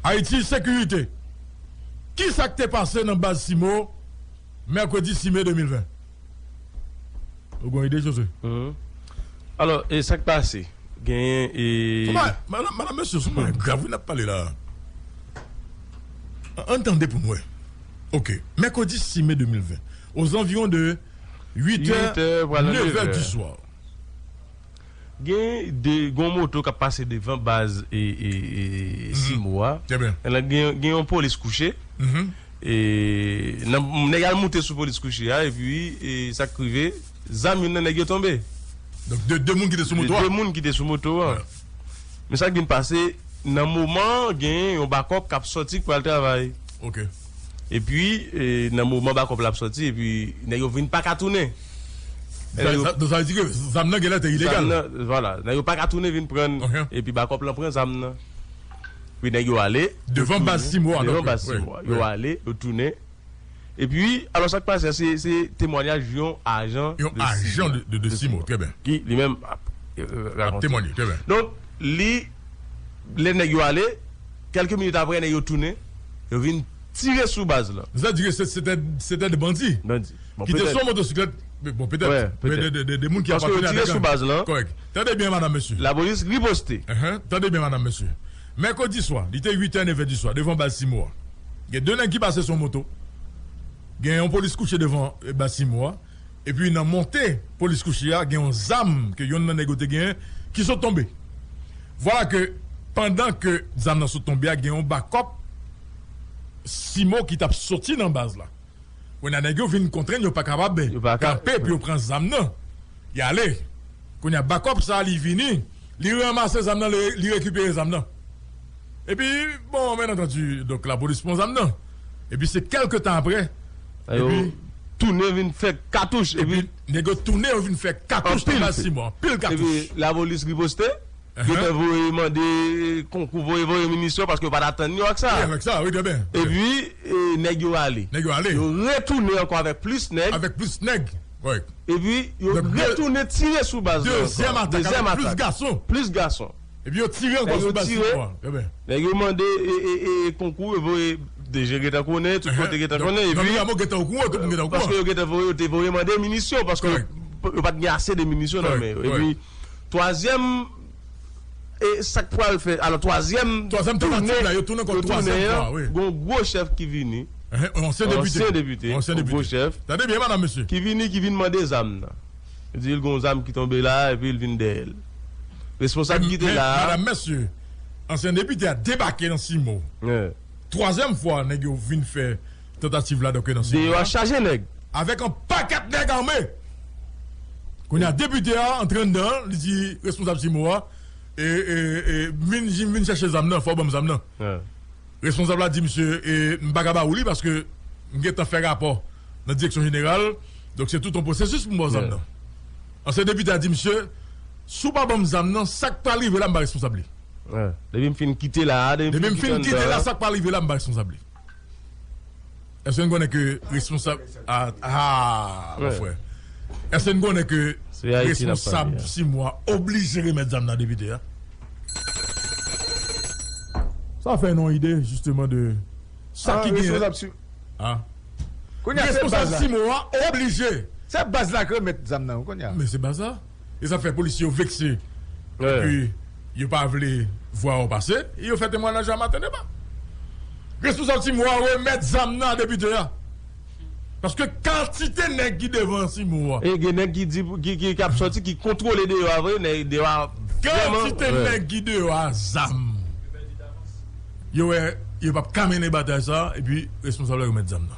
Haiti Sécurité, Ki sa k te pase nan baz Cimo mèkredi 6 me 2020? Ou gon ide Josue? Alò, e sa k pase? Genyen e. Madam, mesye, sou bagay grav wi n ap pale la a. An n tande pou n wè. Ok. Mèkredi 6 me 2020, ozanviwon de 8 è, 9 è diswa. Gen de gon moto kap pase devan baz e simo a elan gen yon polis kouche e nan nèg al moute sou polis kouche a epi e sak rive zam youn nan nèg yo tonbe donk de de moun ki te sou moto a de de moun ki te sou moto a men sak vin pase nan moman gen yon bakòp kap sòti k pral travay ok epi e nan moman bakòp la ap sòti epi nèg yo vin paka tounen. Donk sa vle di ke zam nan genlè te ilegal. Zam nan, vwala. Nèg yo pa ka tounen vin pran l epi bakòp lan pran zam nan. Epi nèg yo ale. Devan baz Timò a. Devan baz Timò a. Yo ale, yo tounen. Epi, alò sa k pase a, se temwanyaj yon ajan de Simò. Yon ajan de Simò. Trè byen. Ki li menm ap rakonte. Ap temwanye. Trè byen. Donk, li, lè nèg yo ale, kèlke minit apre nèg yo tounen, yo vin tire sou baz lan. Sa vle di ke se te de bandi. Bandi. Ki te sou yon motosiklèt, bon petèt, petèt, de moun ki apateni a de gang. Paske yo tire sou baz lan. Kòrèk. Tande byen madanm mesye. Lapolis riposte. Tande byen madanm mesye. Mèkredi swa, li te 8 è, 9 è di swa, devan baz Simo a. Gen 2 nèg ki pase sou yon moto. Gen yon polis kouche devan baz Simo a. Epi nan monte polis kouche a, gen yon zam ke yonn nan nèg yo te genyen ki sot tonbe. Vwala ke pandan ke zam nan sot tonbe a, gen yon bakòp Simo ki t ap soti nan baz la. Kounye a nèg yo vin kontrenn yo pa kapab kanpe pou yo pran zam nan. Y ale. Kounye a bakòp sa a li vini, li ranmase zam nan, li rekipere zam nan. Epi, bon, byen antandi, donk lapolis pran zam nan. Epi se kèlke tan apre, epi. Tounen vin fè katouch. Epi nèg yo tounen yo vin fè katouch nan Baltimore. Anpil katouch. Epi lapolis riposte. Yo te voye mande konkou voye voye minisyon paske yo pat atann yo ak sa. Epi nèg yo ale. Yo retounen ankò avèk plis nèg. Epi yo retounen tire sou baz lan ankò. Dezyèm atak avèk plis gason. Epi yo tire ankò sou baz lan. Nèg yo mande konkou yo voye DG gentan konnen tout kote gentan konnen. Epi paske yo gentan voye yo te voye mande minisyon paske yo pat gen ase de minisyon nan men yo. Twazyèm e sa k pral fè alò twazyèm toune yo tounen an gen yon gwo chèf ki vini yon ansyen depite yon gwo chèf ki vini ki vin mande zam nan li di l gen yon zam ki tonbe la epi l vin dèyè l responsab ki te la a ansyen depite a debake nan simo twazyèm fwa nèg yo vin fè. Tantativ la doke nan seri a. Deyò a chaje nèg. Avèk yon pakèt nèg ame. Kounye a depite a antre anndan an, li di responsab CIMO a, E, e, e, m vin, m vin chèche zam nan, fò w ban m zam nan. Responsab la di misye, E, m pa ka ba ou li paske m gen tan fè rapò nan direksyon jeneral, donk se tout yon pwosesis pou m ba w zam nan. Ansyen depite a di misye, Si w pa ban m zam nan, sa k pral rive la m pa responsab li. Depi m fin kite la a, depi m fin kite anndan an. Depi m fin kite la a, sa k pral rive la m pa responsab li. Eske n konnen ke responsab Aah mon frè Eske n konnen ke responsab Simwa oblije remèt zam nan depite a? Sa fè nou ide jisteman de sa ki genyen Aah Responsab Simwa oblije Se baz la k remèt zam nan wi kounya Men se baz la E sa fè polisye yo vekse epi yo pa vle vwa ou pase e yo fè temwanaj la maten deba. Responsab Cimo a remèt zam nan a depite a paske kantite nèg ki devan Cimo a. E gen nèg ki di ki ap sòti ki kontwole deyò a vre, nèg deyò a vrèman. Kantite nèg ki deyò a zam. Yo wè yo pap ka mennen batay sa epi responsab la remèt zam nan.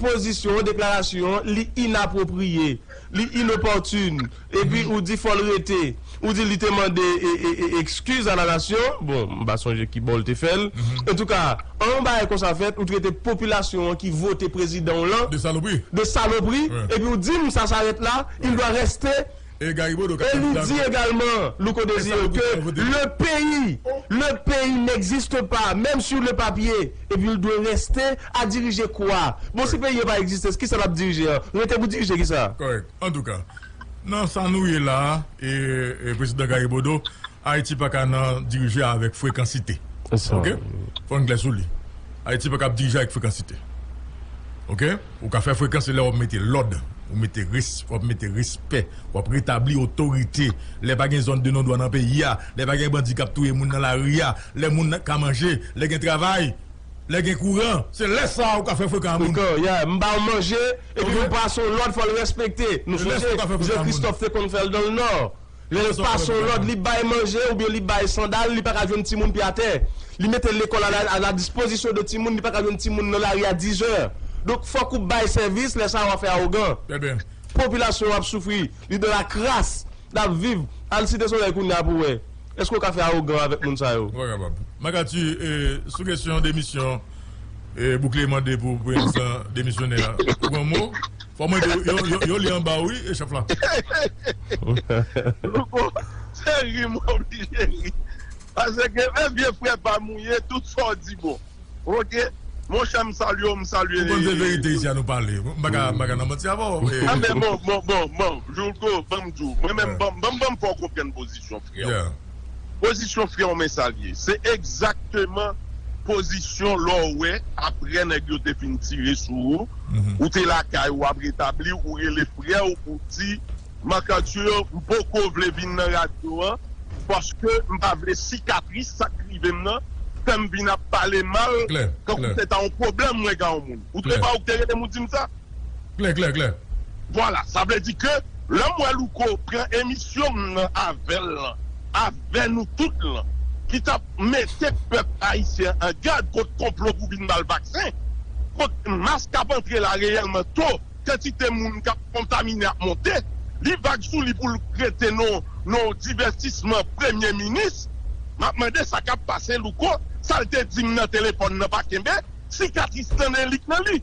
pozisyon, deklarasyon, li inapwopriye, li inopòtun, epi ou di fò l rete, ou di li te mande ekskiz a la nasyon, bon, m pa sonje ki bò l te fè l, antouka, an yon bagay konsa fèt, ou trete popilasyon an ki vote prezidan w lan, de salopri, epi ou di m sa s'arrête là, il doit rester. E li di egalman, Louko Desir, ke le peyi, le peyi n'existe pas, même sur le papier, epi l dwe reste a dirije kwa? Bon si peyi an pa egziste, kisa l ap dirije an? Rete pou dirije kisa? Kòrèk. Antouka, nan sa nou ye la a, Prezidan Gary Bodeau, Ayiti pa ka nan dirije avèk frekansite. Ok? Fò n klè sou li. Ayiti pa kab dirije avèk frekansite. Ok? Ou ka fè frekan se lè wap mete lòd, ou mete res, wap mete respè, wap retabli otorite, lè pa gen zòn de non dwa nan peyi a, lè pa gen bandi kap touye moun nan lari a, lè moun nan ka manje, lè gen travay, lè gen kouran, se lè sa ou ka fè frekan a moun. Frekan, yeah, m ba w manje, epi m pase w lòd fò l respekte. Nou sonje Jan Kristòf te konn fè l dan l Nò. Lè l pa son lòd, li bay manje oubyen li bay sandal, li pa ka jwenn timoun pye atè. Li mete lekòl a la dispozisyon de timoun, li pa ka jwenn timoun nan lari a dizè. Donk, fòk ou bay sèvis, lè sa a w a fè awogan. Popilasyon an ap soufri, li nan la kras, l ap viv. Al Site Solèy kounye a pou w wè. Èske w ka fè awogan avèk moun sa yo? Ou pa kapab. Makati, sou kesyon demisyon, Bouklé mande pou prezidan demisyonè a pran mo. Fò mwen de yo, yo li anba wi chef la. Louko se ri m oblije ri paske men vye frè pam ou ye tout sa w di bon ok monchè m salye w m salye. Ou konn se verite isi a nou pale m pa ka nan manti avè w. Anben bon bon bon bon Louko banm di w mwen menm banm banm fè w konprann pozisyon frè w. Pozisyon freo men sal ye. Se egzakteman pozisyon lè w wè aprè nèg yo te fin tire sou ou, ou te lakay ou ap retabli ou rele frè w pou w di M. Arthur m poko vle vin nan radyo an paske m pa vle sikatris sa k rive m nan fè m vin ap pale mal tankou se ta yon pwoblèm mwen ka yon moun. Ou te wè ou k te rele m ou di m sa? Klè klè klè. Vwala sa vle di ke lèm wè louko pran emisyon m nan avèl lan avè nou tout lan ki tap mete pèp ayisyen an gad kont konplo pou vin bal vaksen kont mas kap antre la reyèlman to kantite moun kap kontamine ap monte li vag sou li poul rete non non divètisman premye minis map mande sa kap pase louko sal te dim nan telefòn nan pa kenbe sikatris nan li k nan li.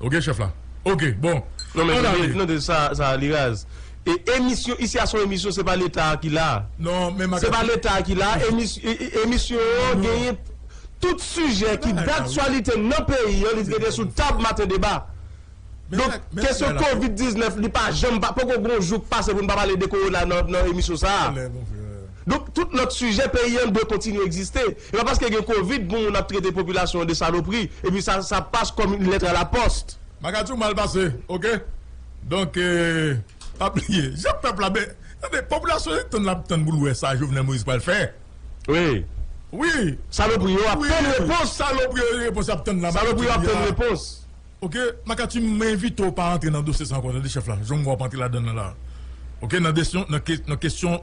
Ok chef la ok bon Non men tande non tande sa sa li raz e emisyon isi a son emisyon se pa leta a ki la Non men maga se pa leta a ki la emis emisyon yo genyen tout sijè ki daktyalite nan peyi an li dwe gen sou tab maten deba donk kesyon covid 19 li pa janm pa poko gon jou k pase pou n pa pale de kowona nan nan emisyon sa a donk tout lòt sijè peyi an dwe kontinye egziste. E pa paske gen covid pou moun ap trete popilasyon an de salopri epi sa sa passe comme une lettre à la poste. Bagay too mal pase ok donk pa bliye jan pèp la be tande popilasyon se tann lap tann pou l wè sa Jovenel Moïse pral fè wi wi Salopri yo ap tann repons Salopri yo repons yap tann la Salopri yo ap tann repons ok Makati m envite w pa antre nan dosye sa ankò tande chèf la jan m wè wap antre ladann nan la ok nan desyon nan kesyon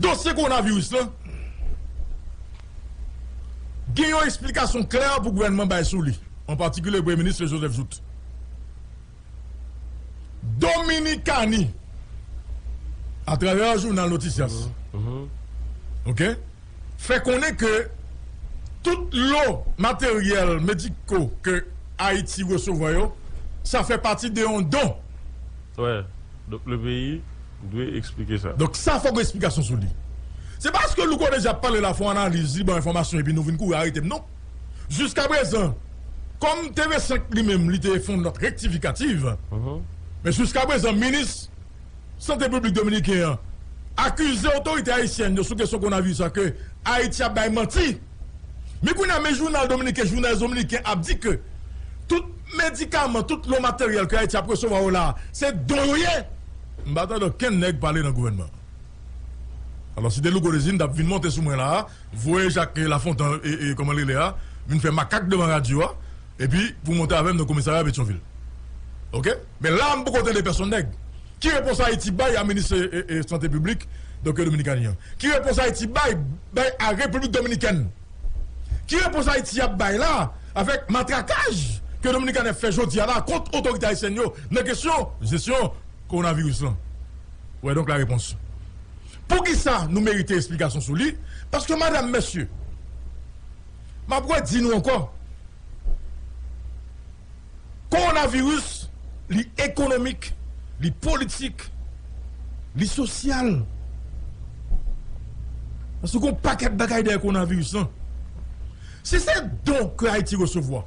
Dosye kowonaviris lan gen yon esplikasyon klè pou gouvènman bay sou li, an patikilye Premye Minis Joseph Jouthe. Dominikani, atravè jounal Noticias, fè konnen ke tout lo materyèl mediko ke Ayiti resevwa yo, sa fè pati de yon don. Ou dwe eksplike sa. Donk sa fòk gen esplikasyon sou li. Se pa paske Louko deja ap pale la fè yon analiz, li ba w enfòmasyon epi nou vin kouri arete m non. Jiskaprezan, kòm TV 5 li menm li te fè yon nòt rektifikativ, men jiskaprezan minis sante piblik dominiken an akize otorite ayisyèn yo sou kesyon konavi sa ke Ayiti ap bay manti. Men kounye a men jounal dominiken Journal Dominicain ap di ke tout medikaman, tout lò materyèl ke Ayiti ap resevwa yo la a se don yo ye. M pa tande okenn nèg pale nan gouvènman an. Alò si te Louko Désir m t ap vin monte sou mwen la a, voye Jacques Lafontan e kòman l rele a vin fè makak devan radyo a epi pou monte avè m nan komisarya Petyonvil. Ok? Men la a m poko tande pèsonn nèg. Ki repons Ayiti bay a minis sante piblik Doktè Dominikani an? Ki repons Ayiti bay bay a Repiblik Dominikèn? Ki repons Ayiti ap bay la avèk matrakaj ke Dominikani ap fè jodi a la kont otorite ayisyèn yo nan kesyon jesyon kowonaviris lan? Ou wè donk la repons poukisa nou merite esplikasyon sou li paske madam mesye m ap redi nou ankò. Kowonaviris li ekonomik, li politik, li sosyal. Paske gon pakèt bagay dèyè kowonaviris lan. Si se don ke Ayiti resevwa,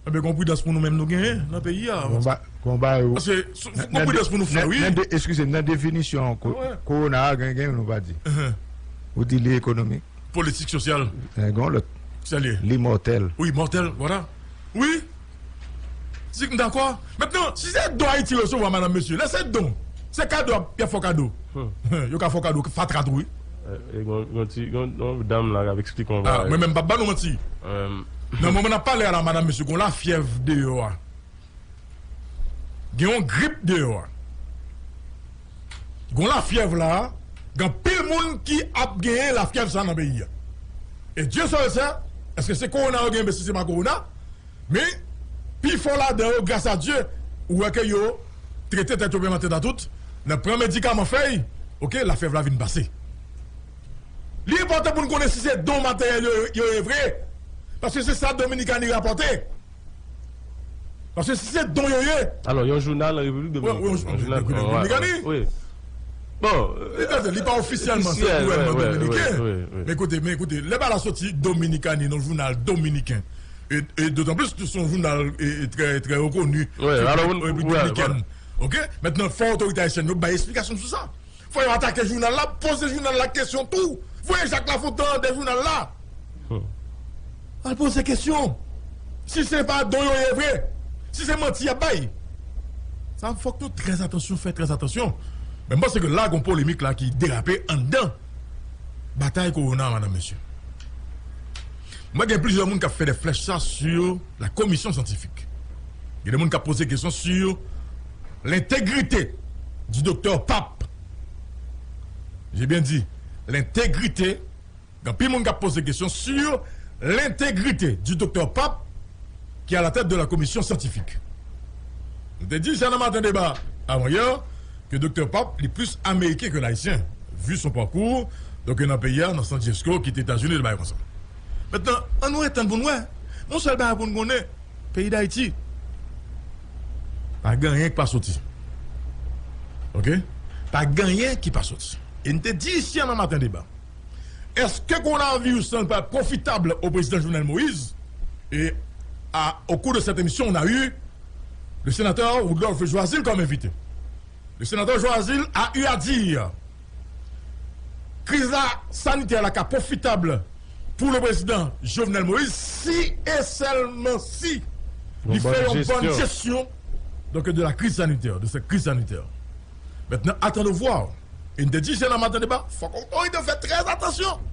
enben gon pridans pou nou menm nou genyen nan peyi a. Gon bagay ou. Paske gon pridans pou nou fè wi. Eskize m, nan definisyon kowona a gen yon nou pa di. Ou di li ekonomik. politik sosyal. Gen yon lòt. Ki sa l ye? Li mòtèl. Wi, mòtèl, vwala. Wi, si m dakò. Mentnan, si se don Ayiti resevwa madanm mesye, lè se don, se kado y ap fè w kado. Yo ka fè w kado fatra tou wi. Gon ti, gon dam la k ap eksplike yon bagay. Mwen menm m p ap ban nou manti. Nan moman n ap pale a la madanm mesye gon lafyèv deyò a. Gen yon grip deyò a. Gon lafyèv la a. Gen anpil moun ki ap genyen lafyèv sa a nan peyi a. E Dye sèl sè èske se kowona yo genyen oubyen si se pa kowona. Men, pi fò ladan yo gras a Dye ou wè ke yo trete tèt yo menm an tèt a tout nan pran medikaman fèy oke lafyèv la vin pase. Li enpòtan pou nou konnen si se don materyèl yo yo ye vre. Paske se sa Dominikani rapòte. Paske si se don yo ye. Alò yon jounal Repiblik Dominikèn. Wi. Bon. Li pa ofisyèlman se gouvènman dominiken. Wi. Men ekoute, men ekoute. Lè ba la soti Dominikani nan jounal dominiken. E dotan plis se yon jounal trè trè rekoni. Wi. Repiblik Dominikèn. Ok. Mètnan fò otorite ayisyèn yo bay esplikasyon sou sa. Fò yo atake jounal la, poze jounal la kesyon tou. Voye Jacques Lafontant an de jounal la. Al poze kesyon. Si se pa don yo ye vre, si se manti y ap bay, sa fòk nou trè atansyon, fè trè atansyon. Men m panse ke la gon polemik la ki derape anndan batay kowona a madan mesye. Mwen gen plizyè moun k ap fè dè flèch sa su. la komisyon syantifik. Gen de moun kap poze kesyon sur l'integrite du Docteur Pape. J'ai bien dit l'integrite, gen anpil moun kap poze kesyon sur l'integrite du Docteur Pape ki a la tèt de la komisyon syantifik. Nou te di sa nan maten deba avan yè ke Docteur Pape li plis ameriken ke l ayisyen vu son parcours, donk yo nan peyi a nan san Jesco kite Etazini de bagay konsa. Mentnan, an nou ret tann pou n wè. Yon sèl bagay pou n konnen, peyi Dayiti pa gen anyen k pa soti. Ok? Pa gen anyen ki pa soti. E n te di isi a nan Maten Deba, èske kowonaviris lan pa pwofitab o prezidan Jovenel Moïse? E a o kou de sèt emisyon on a eu le senatè Woodlove Joazile kòm envite. Le senatè Joazile a eu a dire. Kriz la sanitè la ka pwofitab pou le prezidan Jovenel Moïse si e sèlman si li fè yon bòn jesyon donk de la kriz sanitè, de sèt kriz sanitè. Mètnan atann o vwa. E n te di jè nan maten deba fòk otorite yo fè trè atansyon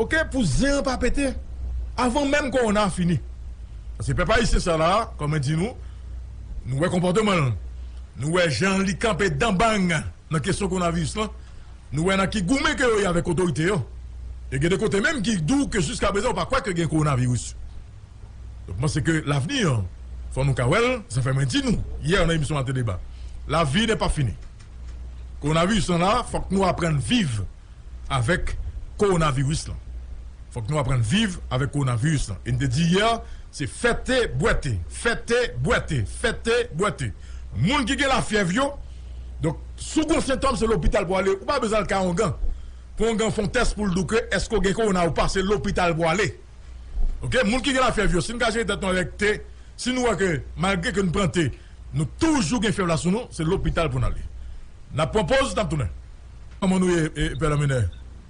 ok pou zen an pa pete avan menm kowona a fini. Paske pèp ayisyen sa la kòm mwen di nou, nou wè konpòteman l, nou wè jan li kanpe danbang. Nan kesyon konaviris lan, nou wè nan ki goumen ke yo ye avèk otorite yo. E gen de kote menm ki di w ke jiska prezan yo pa kwè ke gen kowonaviris. Donk mwen panse ke lavni an, fò nou ka wè l, sa fè mwen di nou yè nan emisyon Ate Deba, lavi nè pa fini. Kowonaviris lan la, fòk nou aprann viv avèk kowonaviris lan. Fòk nou aprann viv avèk kowonaviris lan. E m te di yè, se fè te, bwè te, fè te, bwè te, fè te, bwè te. Moun ki gen lafyèv yo, Donk, si w gen yon sentòm, se lopital pou w ale. Ou pa bezwen al kay ongan pou ongan fè yon tès pou l di w ke èske w gen kowona ou pa. Se lopital pou w ale. Ok? Moun ki gen lafyèv yo, si nou ka jere tèt nou avèk te, si nou wè ke malgre ke nou pran te, nou toujou gen fyèv la sou nou, se lopital pou nou ale. N ap pran poz, n ap tounen. Kòman nou ye, Pè Lanmenè?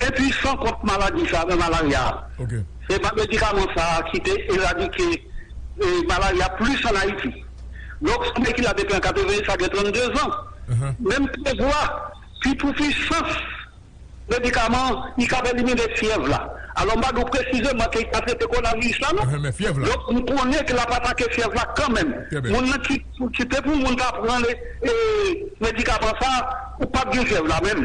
Enpuisan kont maladi sa nan malarya a. Se pa medikaman sa a ki te eradike malarya plis an Ayiti. Dòk Sanbe ki la depi an 81 sa gen 32 zan. Men m prevwa ki pou puisans medikaman li kab elimine fyèv la. Alò m pa di w presizeman ke li ka trete kowonaviris la non. Dòk m konnen ke l ap atake fyèv la kanmenm. Moun nan ki si te pou moun ta pran medikaman sa a ou pap gen fyèv la menm.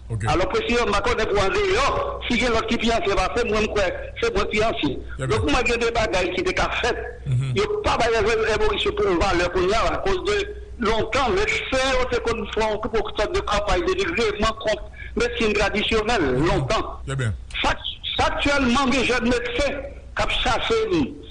Alò prezidan m pa konnen pou andeyò si gen lòt ki pi ansyen pase m mwen m kwè se mwen k pi ansyen donk m wè gen de bagay ki te ka fèt yo pa bay Reverend Moris yo valè kounya a koz de lontan medsen yo te konn fè yon gwo sòt de kanpay denigreman kont medsin tradisyonèl lontan sa aktyèlman gen jèn medsen k ap chache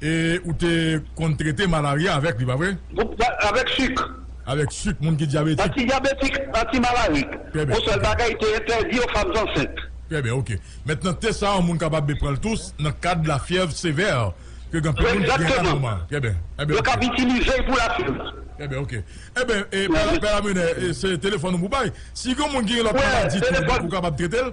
E ou te konn trete malarya avèk li, pa vre? Avèk suk. Avèk suk, moun ki dyabetik. Antidyabetik, antimalarik. Trè byen. Yon sèl bagay, te entèdi yo fanm zansent. Trè byen, ok. Mentnan, te sa a, moun kapab be pran l tous nan kad lafyèv sevè ke gen anpil moun ki gen la nòma. Trè byen. Enben, ok. Yo kab itilize l pou lafyèv. Trè byen, ok. Enben, e, Pè, Pè Lamenè, se telefòn ou pou bay. Si gen yon moun ki gen lòt maladi tou, ou kapab trete l?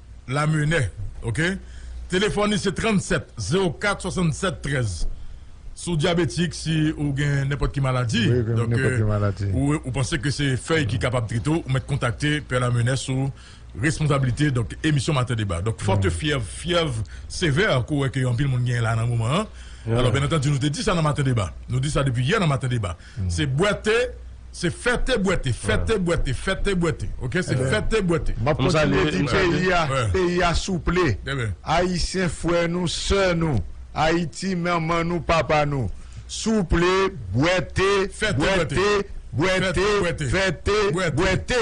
Lamene ok telefòn li se 37 04 67 13 si w dyabetik si ou gen nenpòt ki maladi donk ou panse ke se fèy ki kapab trete w ou mèt kontakte pè Lamene sou responsablite donk emisyon maten deba donk fòte fyèv fyèv sevè ke w wè ke anpil moun genyen la nan moman an alò byen antandi nou te di sa nan maten deba nou di sa depi yè nan maten deba. Se bwè te Se fè te bwè te Fè te bwè te Fè te bwè te Ok se fè te bwè te Map kontinye di peyi a peyi a souple ayisyen frè nou sè nou ayiti manman nou papa nou souple bwè te bwè te bwè te fè te bwè te.